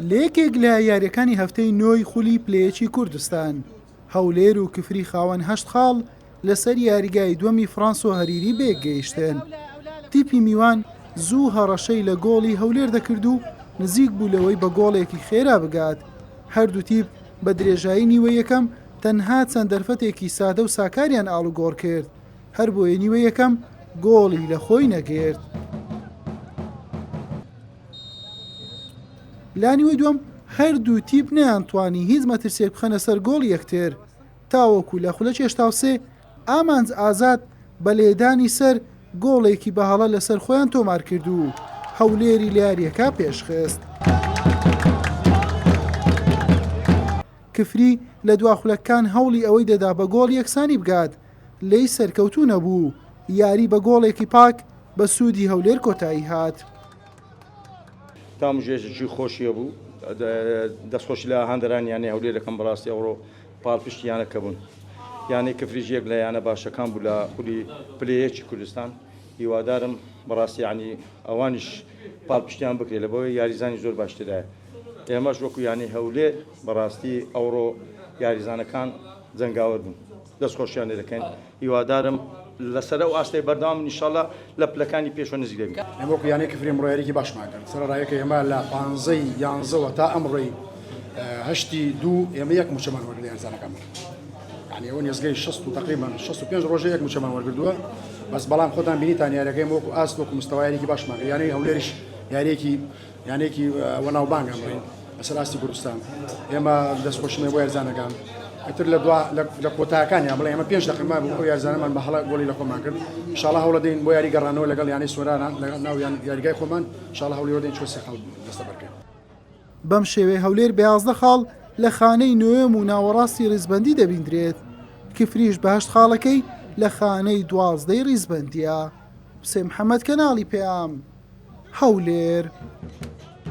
لە یەکێک لە یارییەکانی هەفتەی نۆی خولی پلەیەکی کوردستان، هەولێر و کفری خاوەن هەشت خاڵ لەسەر یاریگای دووەمی فڕانسۆ هەریری بە یەک گەیشتن، تیپی میوان زوو هەڕەشەی لە گۆڵی هەولێر دەکرد و نزیک بوو لەوەی بە گۆڵێکی خێرا بگات، هەردوو تیپ بە درێژایی نیوەی یەکەم تەنها چەند دەرفەتێکی سادە و ساکاریان ئاڵوگۆڕ کرد. هەربۆیە نیوە یەکەم گۆڵی لە خۆی نەگرت. لانیوەی دوم هەردوو تیپ نیان توانی هیچ مەترسێک بخەنە سەر گۆڵ یەکتر تاوەکو لە خولە چێشتاوسێ ئامانج ئازاد بە لێدانی سەر گۆڵێکی بەهاڵە لەسەر خۆیان تۆمار کرد و هەولێری لیاریەکە پێشخست. کفری لە دواخولەکان هەوڵی ئەوەی دەدا بە گۆڵ یەکسانی بگات لێی سەرکەوتوو نەبوو و یاری بە گۆڵێکی پاک بە سوودی هەولێر کۆتایی هات. تامژێژی خۆشیە بوو دەستخۆش لە هاندەران یانەی هەولێر دەکەم بەڕاستی ئەوڕۆ پاڵپشت یانەکە بوون یانەی کفریش یەک لە یانە باشەکان بوو لە خولی پلەیەکی کوردستان هیوادارم بەڕاستی عنی ئەوانیش پاڵپشتیان بکرێت لە بۆی یاریزانی زۆر باشترایە ئێمەش وەکو یانەی هەولێر بەڕاستی ئەوڕۆ یاریزانەکان جەنگاوەر بوون. دەست خۆشیان لێ دەکەین هیوادارم لەسەر ئەو ئاستەی بەردەوام بن انشاللە لە پلەکانی پێشوە نزیک دەبین. ئێمە وەکو یانەی کفری ئەمڕۆ یاریەکی باشمان کرد سەرەڕایەکە ئێمە لە پانزەی یانزەوە تا ئەمڕۆی هەشتی دوو ئێمە یەک موچەمان وەرگرت لە یاریزانەکانمان یعنی ئەوە نێزگەی 60 و تقریبا 65 ڕۆژە یەک موچەمان وەرگردووە بەس بەڵام خۆتان بینیتان یاریەکەی وەکو ئاست وەکو مستەوایەکی باشمان کرد یانەی هەولێریش یاریەکی یانەیەکی وەناوبانگ ئەمڕۆین لەسەر ئاستی کوردستان ئێمە دەستخۆشیمە بۆ یارزانەکان ئەتر لە دوا لە کۆتاکانی ئەمڵێ ئەمە پێنج دەقەمان بۆ یارزانەمان بە هەڵە گۆڵی لە خۆمان کرد شڵە هەوڵە دەین بۆ یاری گەڕانەوە لەگەڵ یانەی سۆرانان لەگەڵ ناویان یاریگای خۆمان شڵە هەوڵیەوە دەین چۆسی خەڵ دەستە بەرکەین بەم شێوەی هەولێر بە یازدە خاڵ لە خانەی نوێم و ناوەڕاستی ڕیزبندی دەبیندرێت کفریش بەهشت خاڵەکەی لە خانەی دوازدەی ڕیزبندە. حوسێن محەمەد، کەناڵی پەیام، هەولێر.